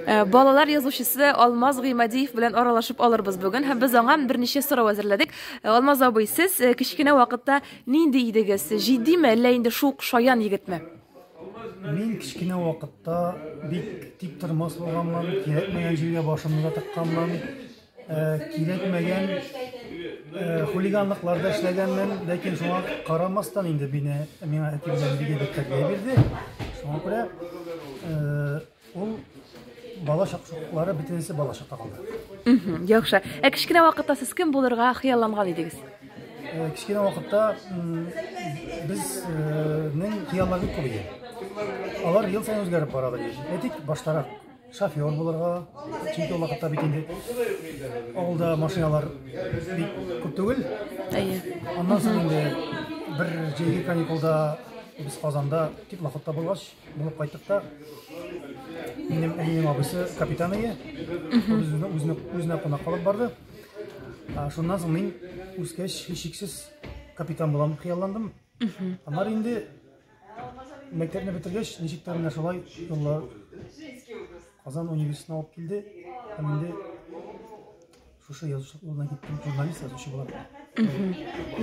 Э, балалар язучысы Алмаз Гыймадиев белән аралашып алырбыз бүген һәм без аңа берничә сорау әзерләдек. Э, Алмаз абый, сез э, кечкенә вакытта нинди идегез? Җитдиме, әллә инде шук шаян егетме? Мин кечкенә вакытта бик тик тормас булганмын, кирәкмәгән җиргә башымны да тыкканмын. кирәкмәгән хулиганлыкларда эшләгәнмен, ләкин шуңа карамастан инде бине миңа әти белән бигә дип тәрбия бирде. Шуңа күрә ул бала чаклары бөтенесе бала чакта калды. Яхшы. Ә кечкенә вакытта сез кем булырга хыялланган идегез? Кечкенә вакытта безнең хыялларыбыз күп иде. Алар ел саен үзгәреп барадыр. Әйтик, баштарак Шофер булырга, чөнки ул вакытта бит инде авылда машиналар бик күп түгел. Әйе. Аннан соң инде бер җәйге каникулда без Казанда теплоходта булгач, булып кайттык та минем әнием абысы капитан иде. Ул безне үзенә үзенә кунак алып барды. А, Шуннан соң мин үскәч һичшиксез капитан булам хыялландым. Аннары инде мәктәпне бетергәч, ничек тә менә шулай юллар Казан университетына алып килде. Һәм инде шушы язучылык юлына киттем, журналист язучы булам.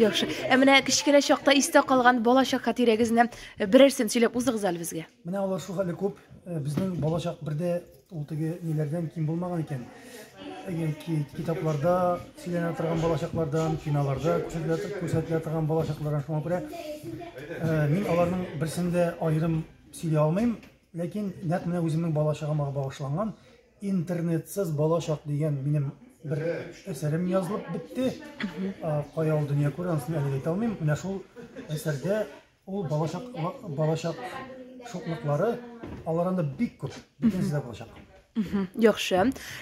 Яхшы. Ә менә кечкенә чакта истә калган балачак хатирәгезне берәрсен сөйләп узыгыз әле безгә. Менә алар шул хәле күп. Э, Безнең балачак бердә Ул теге ниләрдән ким булмаган икән. Яки китапларда сөйләнә торган балачаклардан, киноларда күрсәтелә, күрсәтелә торган балачаклардан шуңа күрә э, мин аларның берсен дә аерым сөйли алмыйм, ләкин нәкъ менә үземнең балачагыма багышланган интернетсыз балачак дигән минем бер әсәрем язылып бетте. Кая ул дөнья күрә, аны әлегә әйтә алмыйм. Менә шул әсәрдә Ул балачак балачак шуклыклары алар анда бик күп, бөтенесе дә балачак. Яхшы.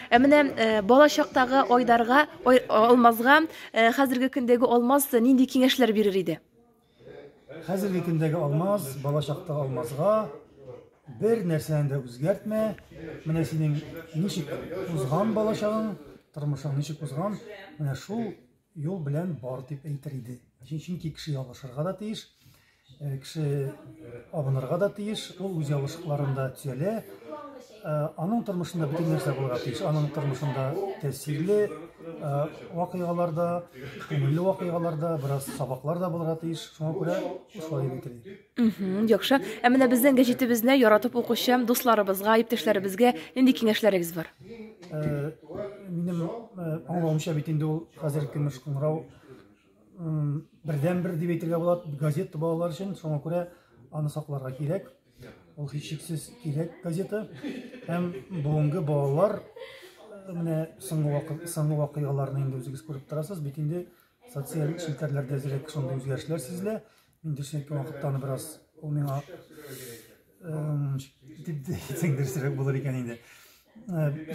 Ә менә э, балачактагы Айдарга, ай, Алмазга э, хәзерге көндәге Алмаз нинди киңәшләр бирер иде? Хәзерге көндәге Алмаз, балачактагы Алмазга бер нәрсәне дә үзгәртмә. Менә синең ничек узган балачагың, тормышың ничек узган, менә шул Юл белән бар дип әйтер иде. Чөнки кеше ялгышырга да тиеш, э, кеше абынырга да тиеш, ул үз ялгышлыкларын да төзәлә. Э, аның тормышында бөтен нәрсә булырга тиеш. Аның тормышында тәэсирле э, вакыйгаларда, күңелле вакыйгаларда, бераз сабаклар да булырга тиеш. Шуңа күрә шулай дип әйтер идем. Мгм, яхшы. Ә менә безнең гәҗитебезне яратып укучы дусларыбызга, иптәшләребезгә нинди киңәшләрегез бар? Э, минем э, аңлавымча бит инде ул хәзер көмеш кыңгырау м, бердәнбер дип әйтергә була газета балалар өчен шуңа күрә аны сакларга кирәк ул һичшиксез кирәк газета һәм бүгенге балалар э, менә соңгы вакы- соңгы вакыйгаларны инде үзегез күреп торасыз бит инде социаль челтәрләрдә әзрәк шундый үзгәрешләр сизелә Мин төшенек вакытта аны бераз ул миңа дип әйтсәң дөресрәк булыр икән инде.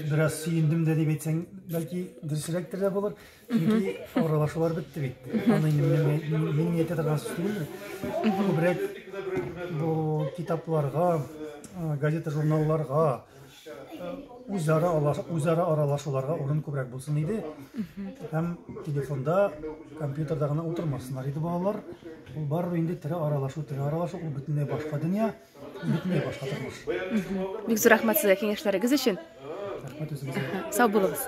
Бераз сөендем дә дип әйтсәң, бәлки дөресрәктер дә булыр. Чөнки аралашулар бетте бит. Аны мин ниятләп торган сүз. Күбрәк бу китапларга, газета-журналларга үзара үзара аралашуларга урын күбрәк булсын иде һәм телефонда компьютерда гына утырмасыннар иде балалар ул барыбер инде тере аралашу тере аралашу ул бөтенләй башка дөнья бөтенләй башка тормыш бик зур рәхмәт сезгә киңәшләрегез өчен рәхмәт үзегезгә сау булыгыз